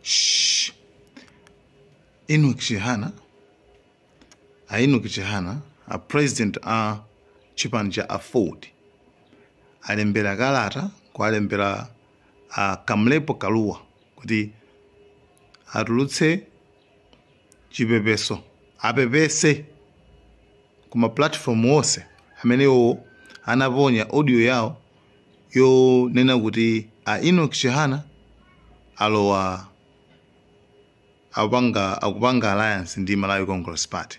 Shh. Enoch Chihana, a Enoch Chihana, a president a chipani cha Aford alembera kalata kuwalembera a Kamlepo Kalua kuti atulutse chipepeso apepese kuma platform onse amene iwo anaponya audio yawo yonena kuti a Enoch Chihana alowa akupanga alliance ndi Malawi Congress Party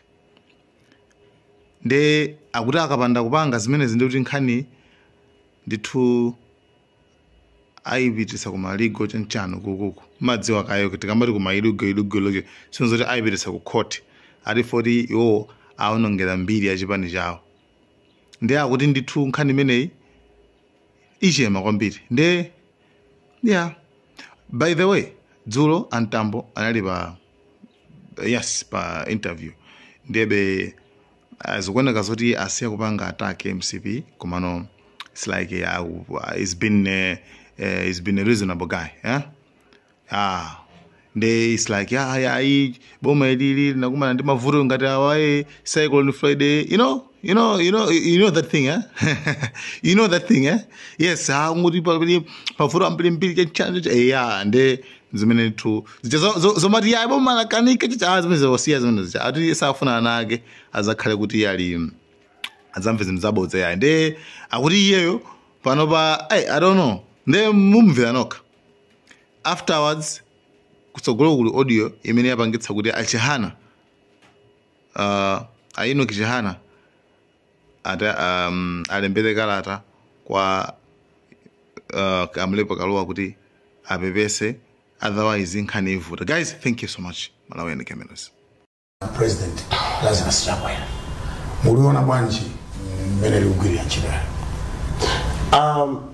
nde akuti akapanda kupanga zimenezi ndikuti nkhani ndithu aipitisa kuma legal chanchani kukuku madziwa kayo tikamati kuma legal legal legal sinzoti aipitisa ku court ati foti iwo aonongera mbiri ya chipani chawo nde akuti ndithu nkhani imeneyi ichema kwambiri nde yeah by the way dzulo a Mtambo anali pa yes pa interview ndebe Uh, zikuoneka zoti asiya kupanga attack mcp komano its like uh, uh, it's been uh, uh, it's been a reasonable guy yeah? ah nde its like ah, yeah, ayi boma ilili linakumana ndi mavuto ngati awaye cycle on friday you know you know you know you know that thing eh? you know that thing eh? yes ah, ngoti pali mavuto ambirimbiri chanchacho eya nde zimene ndithu zija zo- zo- zomati iye aboma lakanika chicha zimene zawasiya zimene zija ati iye sakufuna ana ake azakhale kuti iye ali adzamve zinthu zabodza yayi nde akuti iyeyo panopa ai i don't know nde mumvera nokha afterwards kutsogolo kuli audio imene yapangitsa kuti a Chihana uh, a Enoch Chihana ati um, alembere kalata kwa uh, Kamlepo Kalua kuti apepese otherwise nkhani ivuta guys thank you so much malawi and cameras president lazarus chakwera muliona bwanji mmene likugwirira ntchito yake um,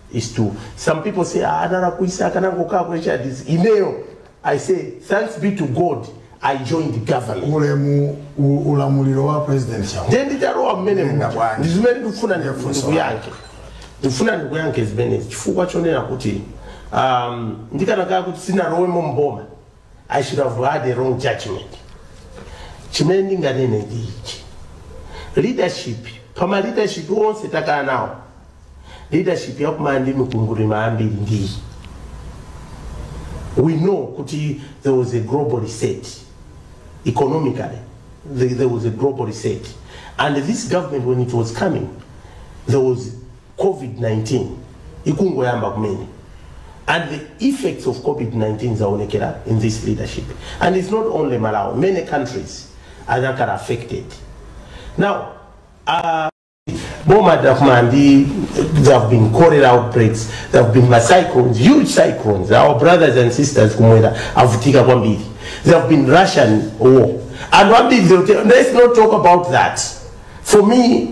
is to some people say ah, analakwisa akanangokhala ku hrdc ineyo i say thanks be to god i joined the government ulemu u- ulamuliro wa president Chakwera ndiye nditalowa mmene Nenda muja. bwanji. ndizimene ndikufuna ndi- Ndifunso ndikuyankhe ndikufuna ndikuyankhe zimenezi chifukwa chonena kuti um, ndikanakhala kuti sinalowemo mboma I should have had a wrong judgment chimene ndinganene ndi ichi leadership pama leadership onse takhala nawo leadership yakumana ndi mikwingwirima yambiri ndi iyi we know kuti there was a global reset economically there, there was a global reset and this government when it was coming there was COVID-19 ikungoyamba kumene and the effects of COVID-19 zaonekera in this leadership and it's not only Malawi many countries are that are affected now uh, boma takuma ndi there have been cholera outbreaks there have been macyclones huge cyclones our brothers and sisters kumwera avutika kwambiri there have been russian war and ambiri let's not talk about that for me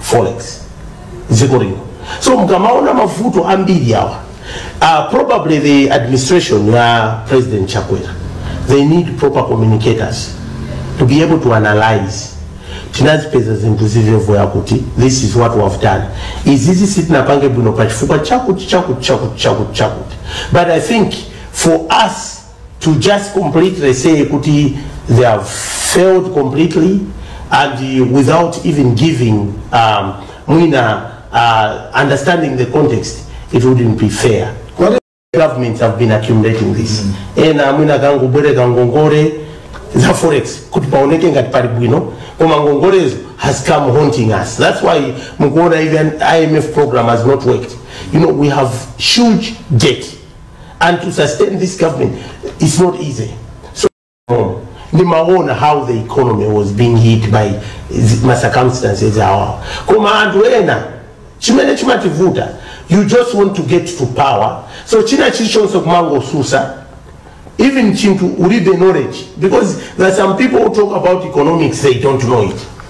forex dziko lino so mukamaona mavuto ambiri awa uh, probably the administration ya president chakwera they need proper communicators to be able to analyze tinazipeza zinthu zivevoya kuti this is what we have done izizi sitinapange bwino pa chifukwa chakuti chakuti chakuti chakuti chakuti but i think for us to just completely say kuti they have failed completely and uh, without even giving um, mwina uh, understanding the context it wouldn't be fair What governments have been accumulating this ena mwina kangobwereka ngongole za forex kuti paoneke ngati pali bwino koma ngongolezo has come haunting us that's why mukuona even imf program has not worked you know we have huge debt and to sustain this government is not easy. So, um, nimaona how the economy was being hit by zi- ma circumstances awa koma anthu ena chimene chimativuta you just want to get to power so china chilichonse kumangosusa even chinthu ulibe knowledge because there are some people who talk about economics they don't know it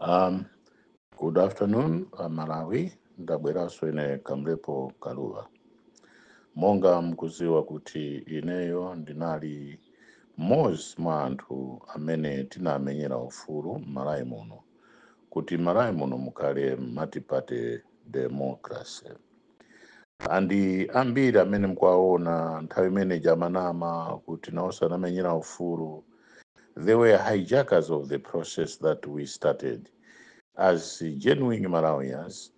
Um, good afternoon, uh, Malawi. Ndabweranso ine Kamlepo Kaluwa. Monga mkuziwa kuti ineyo ndinali mmodzi mwa anthu amene tinamenyera ufulu m'Malawi muno kuti Malawi muno mukhale multiparty democracy. and ambiri amene mkuwaona nthawi imene ija amanama kuti nawonso anamenyera ufulu they were hijackers of the process that we started as genuine malawians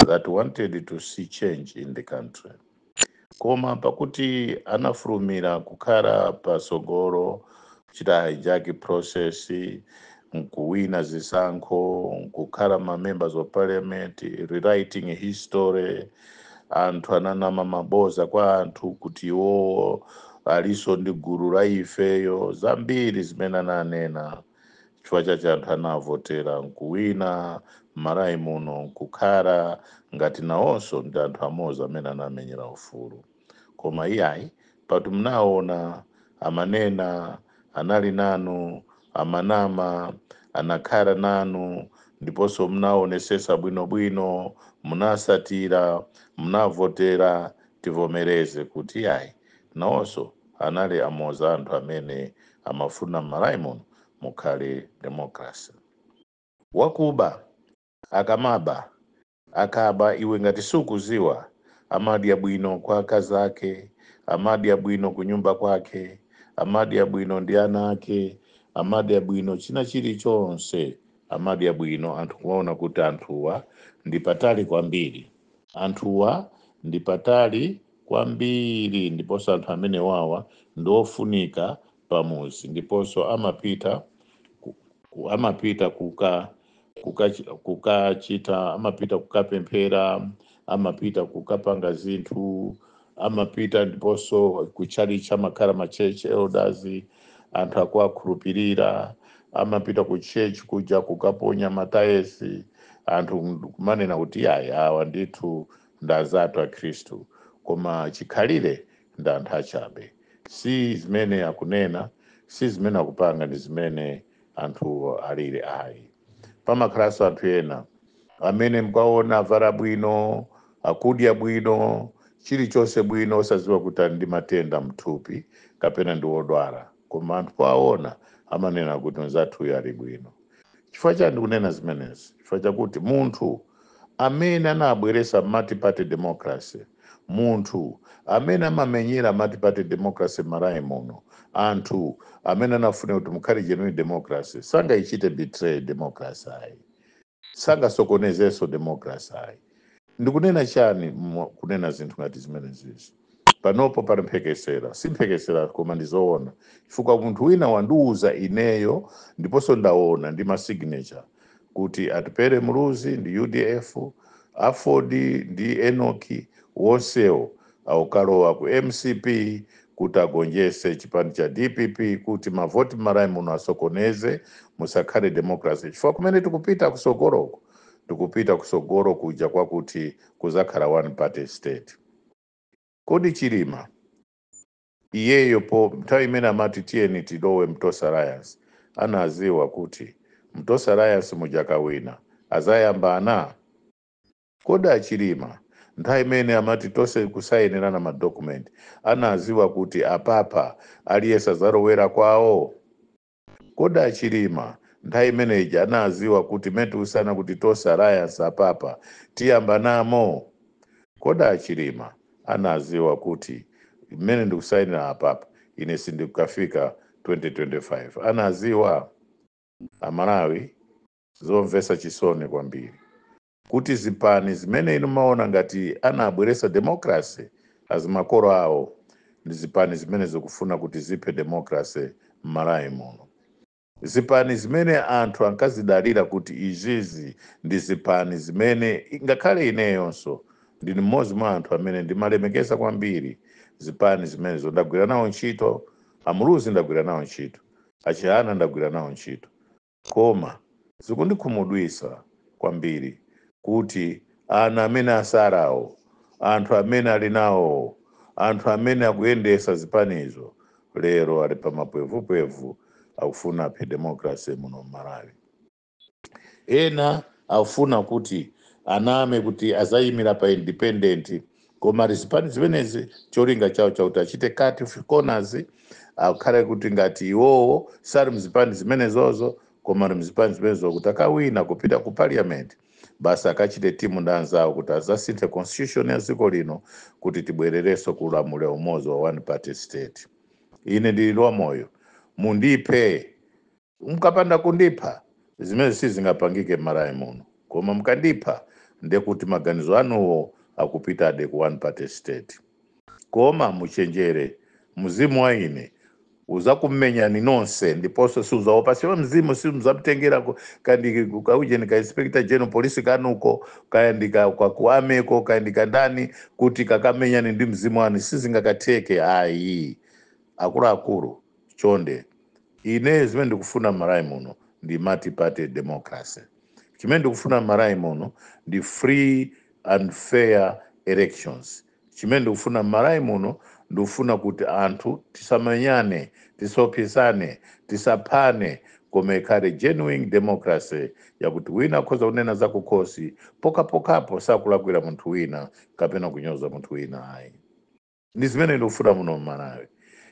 that wanted to see change in the country koma pakuti anafulumira kukhala patsogolo kuchita hijack process nkuwina zisankho nkukhala ma members of parliament rewriting history anthu ananama maboza kwa anthu kuti iwowo aliso ndi gulu la ifeyo zambiri zimene ananena chifukwa chache anthu anawavotera nkuwina mmalawi muno nkukhala ngati nawonso ndi anthu amodzi amene anamenyera ufulu koma iyayi pakuti mnaona amanena anali nanu amanama anakhala nanu ndiponso mnaonesesa bwino bwino munawasatira mnavotera tivomereze kuti iyayi nawonso anali amozi a anthu amene amafuna mmalawi muno mukhale democracy wakuba akamaba Akaba iwe ngati sukuziwa amadya bwino kwa akazi ake amadya bwino kunyumba kwake amadya bwino ndi ana ake amadya bwino china chili chonse amadya bwino anthu kumaona kuti anthuwa ndi apatali kwambiri anthuwa ndi apatali kwambiri ndiponso anthu amenewawa ndi ofunika pamuzi ndiponso amapita ku- ku- amapita kuka kukachi- kukachita amapita kukapemphera amapita kukapanga zinthu amapita ndiponso kutchalitchi amakhala ma church elders anthu akuwakhulupirira amapita ku church kuja kukaponya ma tithes anthu kumanena kuti ayi awa ndithu ndi anzathu akhristu koma chikhalire ndi anthu achabe Si zimene akunena, si zimene akupanga, ndi zimene anthuwo alili ayi. Pamakhalanso anthu ena amene mukawaona avala bwino, akudya bwino, chilichonse bwino, osadziwa kuti ali ndi matenda m'thupi kapena ndi odwala, koma anthu powaona amanena kuti mnzathuyu ali bwino. Chifukwa chani ndikunena zimenezi? Chifukwa chakuti munthu amene anabweresa multiparty democracy, munthu amene amamenyera multiparty democracy m'Malawi muno, anthu amene anafuna kuti mukhale genuine democracy, sangayichite betray democracy ayi. Sangasokonezenso democracy ayi. Ndikunena chani kunena zinthu ngati zimenezizi? Panopo pali mphekesera, si mphekesera koma ndi zoona chifukwa munthu wina wandiuza ineyo ndiponso ndaona ndi ma signature kuti Atupele Muluzi ndi udf, Aford ndi Enock onsewo akukalowa ku mcp kuti agonjetse chipani cha dpp kuti mavoti m'Malawi muno asokoneze musakhale democracy chifukwa kumene tikupita kutsogoloku tikupita kutsogolo kuja kwakuti kudzakhala one party state. Kodi Chilima iyeyo pa nthawi imene amati tiyeni tilowe mu Tonse Alliance anaziwa kuti mu Tonse Alliance muja akawina azayambana? Kodi a Chilima nthawi imene amati tonse kusainirana ma document anaziwa kuti apapa aliyese azalowera kwawo? Kodi a Chilima nthawi imene ija anaziwa kuti mmene tikusaina kuti Tonse Alliance apapa tiyambanamo? Kodi a Chilima anaziwa kuti mmene ndikusainila apapa ine sindikafika 2025? Anaziwa? A Malawi zomvesa chisoni kwambiri. kuti zipani zimene inu mumaona ngati anabweretsa democracy azimakolo awo ndi zipani zimene zikufuna kuti ziphe democracy mmalawi muno. Zipani zimene anthu ankazidalira kuti izizi ndi zipani zimene ngakhale ineyonso ndine mmodzi mwa anthu amene ndimalemekeza kwambiri zipani zimenezo ndagwira nawo ntchito a Muluzi ndagwira nawo ntchito a Chihana ndagwira nawo ntchito Koma zikundikhumudwitsa kwambiri kuti ana amene asarawo, anthu amene ali nawowo, anthu amene akuyendesa zipanizo lero ali pa mapwevupwevu akufuna aphe democracy muno mmalawi. Ena akufuna kuti aname kuti azayimila pa independent koma ali zipani zimenezi cholinga chawo chakuti achite cut corners akhale kuti ngati iwowo sali mzipani zimenezozo koma ali mzipani zimenezo kuti akawina kupita ku parliament basi akachite timu ndi anzawo kuti azasinthe constitution ya dziko lino kuti tibwererenso ku ulamuliro umodzi wa one party state ine ndili wa moyo mundiphe Mkapanda kundipha, zimenezi sizingapangike m'Malawi muno. Koma mkandipha, ndiye kuti maganizo anuwo akupitabe ku one party state. Koma muchenjere, mzimu wa ine uzakumenyani nonse ndiponso siuzaopa chifukwa mzimu simuzamtengera ku, kaya ndi ku ka ujeni ka Inspector General Police kanuko, kaya ndi ka kwa ku army ko, kaya ndi kandani kuti kakamenyane ndi mzimu wanu, sizingakatheke ayi akuluakulu. chonde ine zimene ndikufuna m'malawi muno ndi multiparty democracy chimene ndikufuna m'malawi muno ndi free and fair elections chimene ndikufuna m'malawi muno ndikufuna kuti anthu tisamenyane tisaopsezane tisaphane koma ikhale genuine democracy yakuti wina akhoza kunena zakukhosi pokhapokhapo sakulakwira munthu wina kapena kunyoza munthu wina ayi ndi zimene ndikufuna muno mmalawi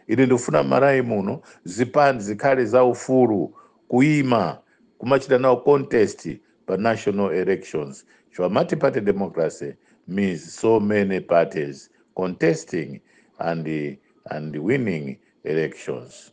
ine ndikufuna mmalawi muno zipani zikhale za ufulu kuima kumachita nawo contest pa national elections chifukwa multiparty democracy means so many parties contesting and winning elections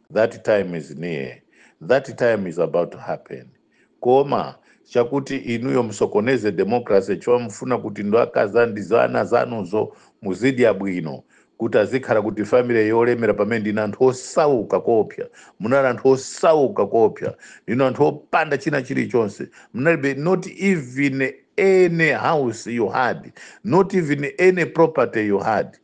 that time is near that time is about to happen koma chakuti inuyo musokoneze democracy chifukwa mufuna kuti ndi akazi anu ndi ziwana zanuzo muzidya bwino kuti azikhala kuti family yolemera pamene ndinu anthu osauka koopsa munali anthu osauka koopsa ndinu anthu opanda china chilichonse munalibe not even any house you had not even any property you had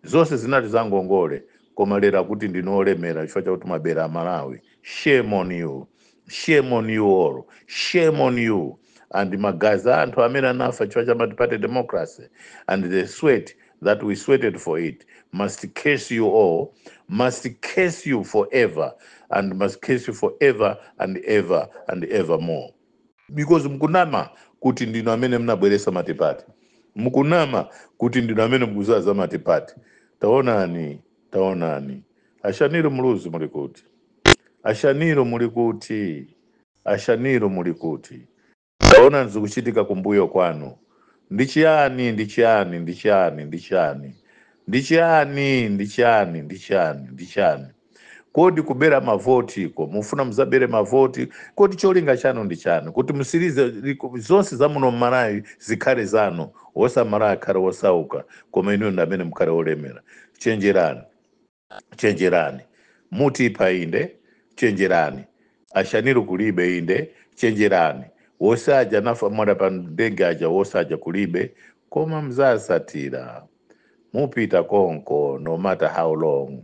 zonse zinali zangongole koma lero akuti ndinu olemera chifukwa chakuti mwabera amalawi shame on you shame on you all shame on you and magazi a anthu amene anafa chifukwa cha multiparty democracy and the sweat that we sweated for it must curse you all must curse you forever and must curse you forever and ever and evermore because mukunama kuti ndinu amene mnabweresa matipati mukunama kuti ndinu amene mukuziwa za matipati taonani taonani a Shanil Muluzi muli kuti a Shanil muli kuti a Shanil muli kuti taonani zikuchitika kumbuyo kwanu ndi chiyani ndi chiyani ndi chiyani ndi chiyani ndi chiyani ndi chiyani ndi chiyani ndi chiyani Kodi kubera mavotiko mufuna muzabere mavoti? Kodi cholinga chanu ndi chani? Kuti mutsirize zonse za muno mmalawi zikhale zanu, wose amalawi akhale wosauka koma inuyo ndi amene mukhale wolemera? Chenjerani, chenjerani. Mutipha inde, chenjerani. A Shanil kulibe inde, chenjerani. Wose aja anafa mwadala pa ndege aja wose aja kulibe, koma mzasatira. Mupita konko no matter how long.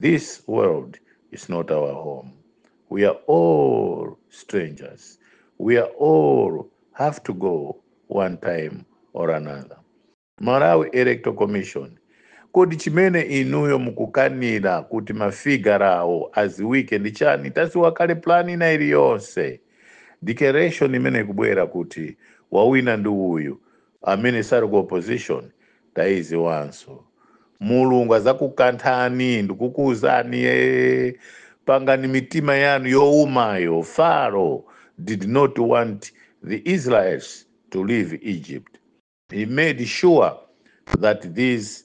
This world is not our home. We are all strangers. We are all have to go one time or another. Malawi Electoral Commission, kodi chimene inuyo mukukanira kuti mafigarawo aziwike ndi chani? Taziwa kale plan ina iliyonse declaration imene ikubwera kuti wawina ndi uyu Amene sali ku opposition taiziwanso. Mulungu azakukanthani ndikukuuzani ee pangani mitima yanu youmayo Pharaoh did not want the Israels to leave Egypt he made sure that these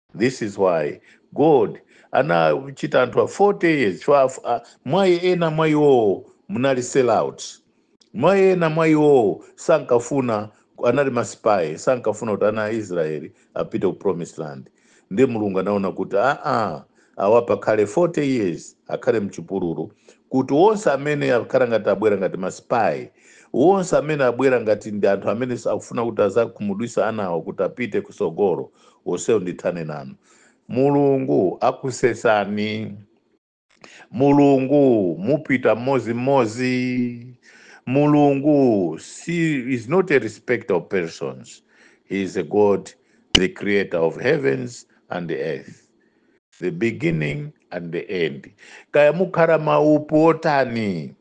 This is why God anachita anthu a 40 years chifukwa af- a- mwa ena mwa iwowo munali sellouts mwa ena mwa iwowo sankafuna anali ma spy sankafuna kuti ana a israeli apite ku promised land ndiye mulungu anaona kuti aa awa pakhale 40 years akhale mchipululu kuti wonse amene akhala ngati abwera ngati ma spy wonse amene abwera ngati ndi anthu amene akufuna kuti azakhumudwisa anawo kuti apite kusogolo wonsewo ndithane nawo mulungu akusesani mulungu mupita mmozi mmozi mulungu si is not a respecter of persons he is a god the creator of heavens and the earth the beginning and the end kaya mukhala maupu otani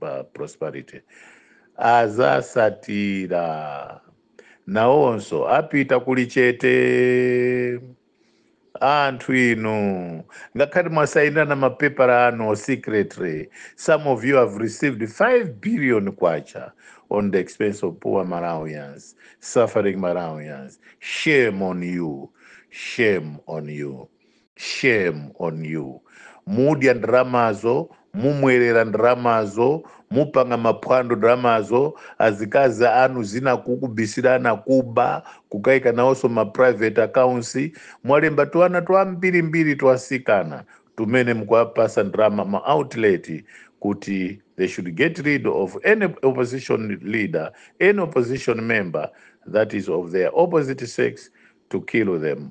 pa prosperity azasatira nawonso apita kuli chete anthu inu ngakhale mwasayinirana mapepala anu secretly some of you have received 5 billion kwacha on the expense of poor malawians suffering malawians shame on you shame on you shame on you mudya ndalamazo mumwerera ndalamazo mupanga maphwando ndalamazo azikazi anu zina kukubisirana kuba kukaika nawonso ma private accounts mwalemba tuana twambirimbiri twasikana tumene mkuwapasa ndalama ma outlet kuti they should get rid of any opposition leader any opposition member that is of their opposite sex to kill them